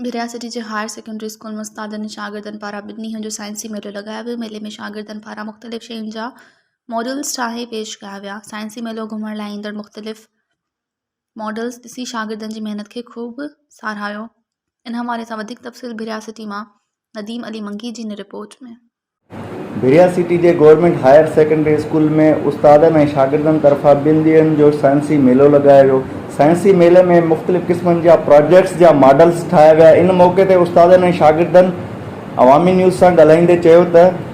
ڀرياسيٽي جي higher secondary school ۾ استادن ۽ شاگردن پاران ٻن ڏينهن جو سائنسي ميلو لڳايو ويو ميلي ۾ شاگردن پاران مختلف شين جا ماڊلز ٺاهي پيش ڪيا ويا سائنسي ميلو گهمڻ لاء ايندڙ مختلف ماڊلز ڏسي شاگردن جي محنت کي خوب ساراهيو ان حوالي سان وڌيڪ تفصيل بحريا سٽي مان نديم علي منگي جي ان رپورٽ ۾. بحريا سٽي جي گورنمينٽ هائر سيڪنڊري اسڪول ۾ استادن ۽ شاگردن طرفان ٻن ڏينهن جو سائنسي ميلو لڳايو ويو سائنسي ميلي ۾ مختلف قسمن جا پراجيڪٽس جا ماڊلز ٺاهيا ويا ان موقعي تي استادن ۽ شاگردن عوامي نيوز سان ڳالهائيندي چيو ته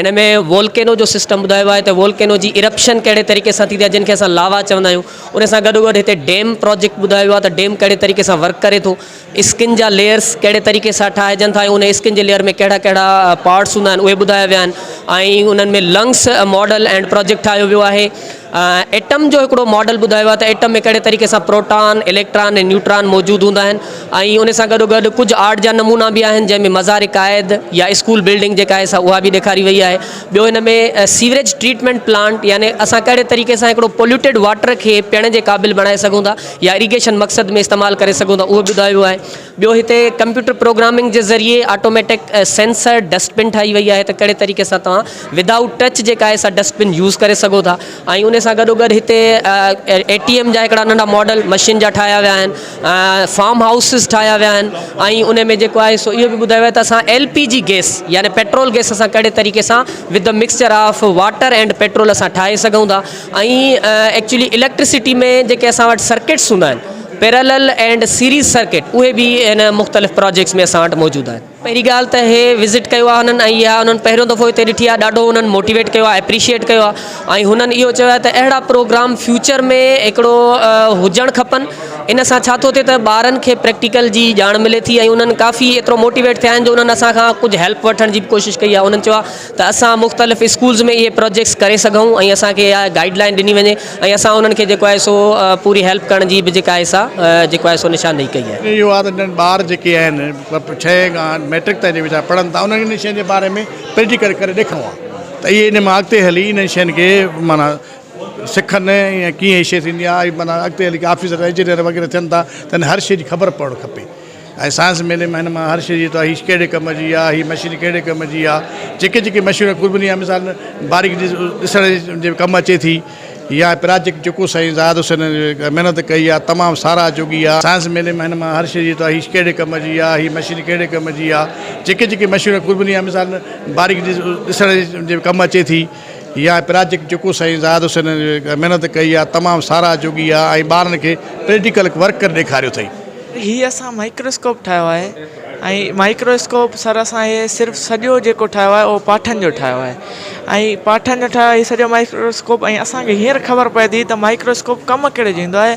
ان ۾ وولڪينو جو سسٽم ٻڌايو آهي ته وولڪينو جي ارپشن ڪهڙي طريقي سان ٿيندي آهي جن کي اسان لاوا چوندا آهيون ان سان گڏو گڏ هتي ڊيم پروجيڪٽ ٻڌايو ويو آهي ته ڊيم ڪهڙي طريقي سان ورڪ ڪري ٿو اسڪن جا ليئرس ڪهڙي طريقي سان ٺاهجن ٿا ان اسڪن جي ليئر ۾ ڪهڙا ڪهڙا پارٽس هوندا آهن اهي ٻڌايا ويا آهن ۽ انهن ۾ لنگس ماڊل اينڊ پروجيڪٽ ٺاهيو ويو آهي ايٽم جو هڪڙو ماڊل ٻڌايو آهي ته ايٽم ۾ ڪهڙي طريقي سان پروٽان، اليڪٽران ۽ نيوٽران موجود هوندا آهن ۽ ان سان گڏو گڏ ڪجهه آرٽ جا نمونا به آهن جنهن ۾ مزار قائد يا اسڪول بلڊنگ جيڪا آهي سا اها به ڏيکاري وئي آهي ٻيو هن ۾ سيوريج ٽريٽمينٽ پلانٽ يعني اسان ڪهڙي طريقي سان هڪڙو پوليوٽيڊ واٽر کي پيئڻ جي قابل بڻائي سگهون ٿا يا اريگيشن مقصد ۾ استعمال ڪري سگهون ٿا اهو ٻڌايو ويو آهي ٻيو هتي ڪمپيوٽر پروگرامنگ جي ذريعي آٽوميٽڪ سينسر ڊسٽبن ٺاهي وئي آهي ته ڪهڙي طريقي سان توهان ود آئوٽ ٽچ جيڪا آهي سا ڊسٽبن يوز ڪري سگهو ٿا ۽ ان سان گڏو گڏ هتي اي ٽي ايم جا هڪڙا ننڍا ماڊل مشين جا ٺاهيا ويا آهن فارم هائوسز ٺاهيا ويا آهن ۽ ان ۾ جيڪو آهي سو اهو به ٻڌايو ويو ته اسان ايل پي جي گيس يعني پيٽرول گيس اسان ڪهڙي طريقي سان with the mixture of water and petrol اسان ٺاهي سگهون ٿا ۽ ايڪچولي اليڪٽرسٽي ۾ جيڪي اسان وٽ سرڪٽس هوندا آهن پيرالل اينڊ سيريز سرڪٽ اهي به هن مختلف پراجيڪٽس ۾ اسان وٽ موجود آهن. پهرين ڳالهه ته هي وزٽ ڪيو آهي هنن ۽ اها هنن پهريون دفعو هتي ڏٺي آهي ڏاڍو هنن موٽيويٽ ڪيو آهي اپريشيئيٽ ڪيو آهي ۽ هنن اهو چيو آهي ته اهڙا پروگرام فيوچر ۾ هڪڙو هجڻ کپن ان سان ڇا ٿو ٿئي ته ٻارن کي پريڪٽيڪل جي ڄاڻ ملي ٿي ۽ هنن ڪافي ايترو موٽيويٽ ٿيا آهن جو هنن اسان کان ڪجهه هيلپ وٺڻ جي به ڪوشش ڪئي آهي هنن چيو آهي ته اسان مختلف اسڪولز ۾ اهي پراجيڪٽس ڪري سگهون ۽ اسان کي اها گائيڊ لائين ڏني وڃي ۽ اسان انهن کي جيڪو آهي سو پوري هيلپ ڪرڻ جي به جيڪا آهي سا جيڪو آهي سو نشاندهي ڪئي آهي. اهو آهي ته جن ٻار جيڪي آهن ڇهين کان ميٽرڪ تائين جي ويچارا پڙهن ٿا انهن کي انهن شين جي باري ۾ پريٽيڪل ڪري ڏيکارڻو آهي ته اهي ان مان اڳتي هلي انهن شين کي معنيٰ سکن ۽ ڪيئن هي شي ٿيندي آهي معنيٰ اڳتي هلي ڪي آفيسر انجنيئر وغيره ٿين ٿا ته هر شي جي خبر پوڻ کپي ۽ سائنس ميلي مان هن مان هر شيء جي تو هيش ڪهڙي ڪم جي آ هي مشين ڪهڙي ڪم جي آ جيڪي جيڪي مشين قربني يا مثال ۾ باريڪ جي ڏسڻ جي ڪم اچي ٿي يا پراجيڪٽ جيڪو سائين زاهد حسين محنت ڪئي آ تمام ساراهه جوڳي آ سائنس ميلي مان هن مان هر شيء جي تو هيش ڪهڙي ڪم جي آ هي مشين ڪهڙي ڪم جي آ جيڪي جيڪي مشين قربني يا مثال ۾ باريڪ جي ڏسڻ جي ڪم اچي ٿي. اها آهي پراجيڪٽ جيڪو سائين زاهد حسين محنت ڪئي آهي تمام ساراهه جوڳي آهي ۽ ٻارن کي پريٽيڪل ورڪ ڪري ڏيکاريو اٿئي. هي اسان مائڪروسڪوپ ٺاهيو آهي ۽ مائڪروسڪوپ سر اسان هي صرف سڄو جيڪو ٺاهيو آهي اهو پاٺن جو ٺاهيو آهي ۽ پاٺن جو ٺاهيو آهي هي سڄو مائڪروسڪوپ ۽ اسان کي هينئر خبر پئي ٿي ته مائڪروسڪوپ ڪم ڪهڙي جو ايندو آهي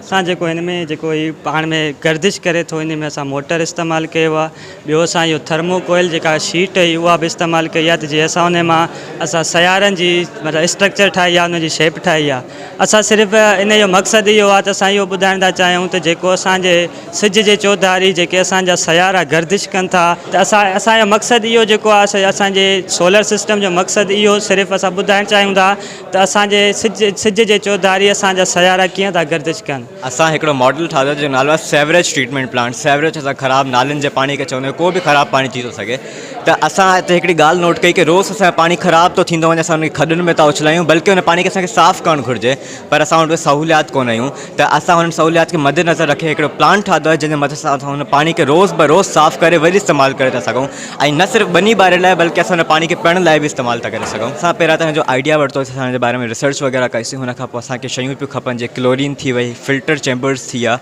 اسان جيڪو هن ۾ جيڪو هي پاڻ ۾ گردش ڪري ٿو ان ۾ اسان موٽر استعمال ڪيو آهي ٻيو اسان اهو ٿرمو ڪوئل جيڪا شيٽ هئي اها به استعمال ڪئي آهي ته جي اسان ان مان اسان سيارن جي مطلب اسٽرڪچر ٺاهي آهي ان جي شيپ ٺاهي آهي اسان صرف ان جو مقصد اهو آهي ته اسان اهو ٻڌائڻ ٿا چاهيون ته جيڪو اسانجي سج جي چوڌاري جيڪي اسانجا سيارا گردش ڪن ٿا ته اسان اسان جو مقصد اهو جيڪو آهي اسانجي سولر سسٽم جو مقصد اهو صرف اسان ٻڌائڻ چاهيون ٿا ته اسان جي سج جي چوڌاري اسان جا سيارا ڪيئن ٿا گردش ڪن. اسان هڪڙو ماڊل ٺاهيو جنهن جو نالو آهي سيوريج ٽريٽمينٽ پلانٽ سيوريج اسان خراب نالين جي پاڻي کي چوندا آهيون ڪو به خراب پاڻي ٿي ٿو سگهي ته اسان هتي هڪڙي ڳالهه نوٽ ڪئي ڪي روز اسان جو پاڻي خراب ٿو ٿيندو وڃي اسان ان کي کڏن ۾ ٿا اڇلايون بلڪه ان پاڻي کي اسان کي صاف ڪرڻ گهرجي پر اسان وٽ اهي سهوليات ڪونه هيون ته اسان هن سهوليات کي مدنظر رکي هڪڙو پلانٽ ٺاهيو آهي جنهن جي مدد سان اسان هن پاڻي کي روز بروز صاف ڪري وري استعمال ڪري ٿا سگهون ۽ نه صرف ٻني ٻاري لاء بلڪه اسان ان پاڻي کي پيئڻ لاء به استعمال ٿا ڪري سگهون اسان پهريان ته هن جو آئيڊيا ورتو اسان ان جي باري ۾ ريسرچ وغيره ڪئي سين هن کان پوء اسان کي شيون پيون کپن جيئن ڪلورين ٿي وئي فلٽر چيمبرس ٿي ويا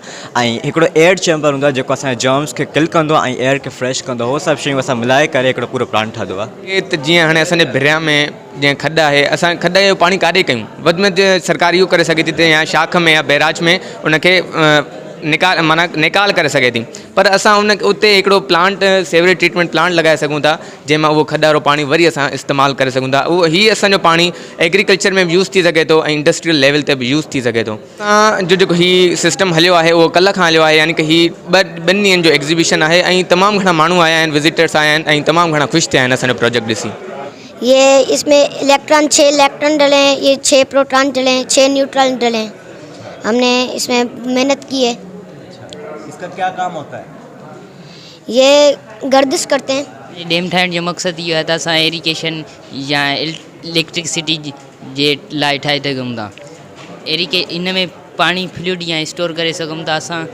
۽ هڪڙو ايئر چيمبر هوندو آهي جيڪو اسان جي جرمس کي ڪل ڪندو آهي ۽ ايئر کي فريش ڪندو آهي هو سڀ شيون اسان ملائي ڪري هڪڙو پورو پلانٽ ٺاهيو آهي. ائين ته جيئن هاڻي اسان جي ڀريان ۾ جيئن کڏ آهي اسان کڏ جو پاڻي ڪاڏي ڪيون وڌ ۾ وڌ سرڪار اهو ڪري سگهي ٿي ته يا شاخ ۾ يا بئراج ۾ ان کي نيڪال معنيٰ نيڪال ڪري سگهي ٿي پر اسان ان اتي هڪڙو پلانٽ سيوريج ٽريٽمينٽ پلانٽ لڳائي سگهون ٿا جنهن مان اهو کڏ وارو پاڻي وري اسان استعمال ڪري سگهون ٿا اهو هي اسان جو پاڻي ايگريڪلچر ۾ به يوز ٿي سگهي ٿو ۽ انڊسٽريل ليول تي به يوز ٿي سگهي ٿو. اسان جو جيڪو هي سسٽم هليو آهي اهو ڪلهه کان هليو آهي يعني ڪه هي ٻه ٻن ڏينهن جو ايگزيبيشن آهي ۽ تمام گهڻا ماڻهو آيا آهن وزيٽرس آيا آهن ۽ تمام گهڻا خوش ٿيا آهن اسان جو پروجيڪٽ ڏسي. هي اس ۾ اليڪٽران ڇهه اليڪٽران ڊلي هي ڇهه پروٽان ڊلي ڇهه نيوٽران ڊلي هم ني اس ۾ محنت ڪي هي. يي گردش ڪرتي هين. ڊيم ٺاهڻ جو مقصد اهو آهي ته اسان ايريگيشن يا اليڪٽرڪسٽي جي لاء ٺاهي سگهون ٿا ان ۾ پاڻي فلوڊ يا اسٽور ڪري سگهون ٿا اسان.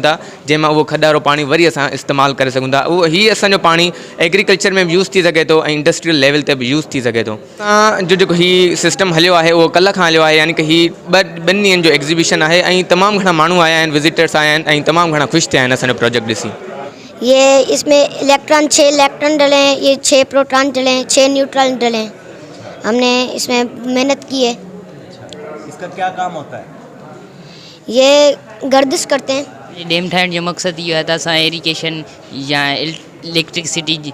ٿا جنهن مان اهو کڏ وارو پاڻي وري اسان استعمال ڪري سگهون ٿا هي اسان جو پاڻي ايگريڪلچر ۾ به يوز ٿي سگهي ٿو ۽ انڊسٽريل ليول تي به يوز ٿي سگهي ٿو. تان جو جيڪو هي سسٽم هليو آهي اهو ڪلهه کان هليو آهي يعني ڪه هي ٻه ٻن ڏينهن جو ايگزيبيشن آهي ۽ تمام گهڻا ماڻهو آيا آهن وزيٽرس آيا آهن ۽ تمام گهڻا خوش ٿيا آهن اسان جو پروجيڪٽ ڏسي. هي اس ۾ اليڪٽران ڇهه اليڪٽران ڊلي هين هي ڇهه پروٽان ڊلي هين ڇهه نيوٽران ڊلي هين هم ني اس ۾ محنت ڪي هي. اچھا اس ڪا ڪيا ڪام هوتا هي. هي گردش ڪرتي هين. هي ڊيم ٺاهڻ جو مقصد اهو آهي ته اسان ايريگيشن يا اليڪٽرڪ سٽي جي.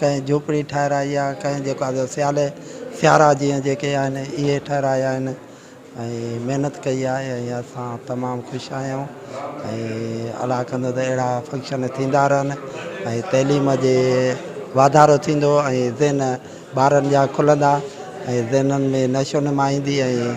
ڪنهن جهوپڙي ٺهرائي آهي ڪنهن جيڪو آهي سيالي سيارا جيئن جيڪي آهن اهي ٺهرايا آهن ۽ محنت ڪئي آهي ۽ اسان تمام خوش آهيون ۽ الله ڪندو ته اهڙا فنڪشن ٿيندا رهن ۽ تعليم جي واڌارو ٿيندو ۽ ذهن ٻارن جا کلندا ۽ ذهنن ۾ نشو نما ايندي ۽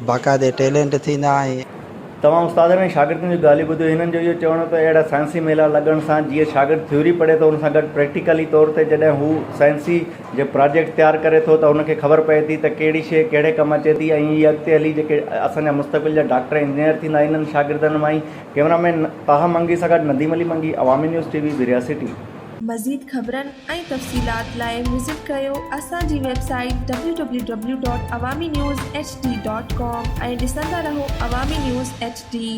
باقاعدي ٽيلنٽ ٿيندا ۽ توهان استادن ۽ شاگردن جون ڳالهيون ٻڌيو، هنن جو اهو چوڻ هو ته اهڙا سائنسي ميلا لڳڻ سان جيئن شاگرد ٿيوري پڙهي ٿو ان سان گڏ پريڪٽيڪلي طور تي جڏهن هو سائنسي جي پراجيڪٽ تيار ڪري ٿو ته هن کي خبر پئي ٿي ته ڪهڙي شيء ڪهڙي ڪم اچي ٿي ۽ اهي اڳتي هلي جيڪي اسان جا مستقبل جا ڊاڪٽر ۽ انجنيئر ٿيندا انهن شاگردن مان ئي ڪئميرا مين طاها منگي سان گڏ Nadeem Ali Mangi Awami news T V برياسيٽي. مزيد خبرن ۽ تفصيلات لاء وزٽ ڪريو اسان جي ويب سائيٽ www.awaminewshd.com ۽ ڏسندا رهو عوامي نيوز ايڇ ڊي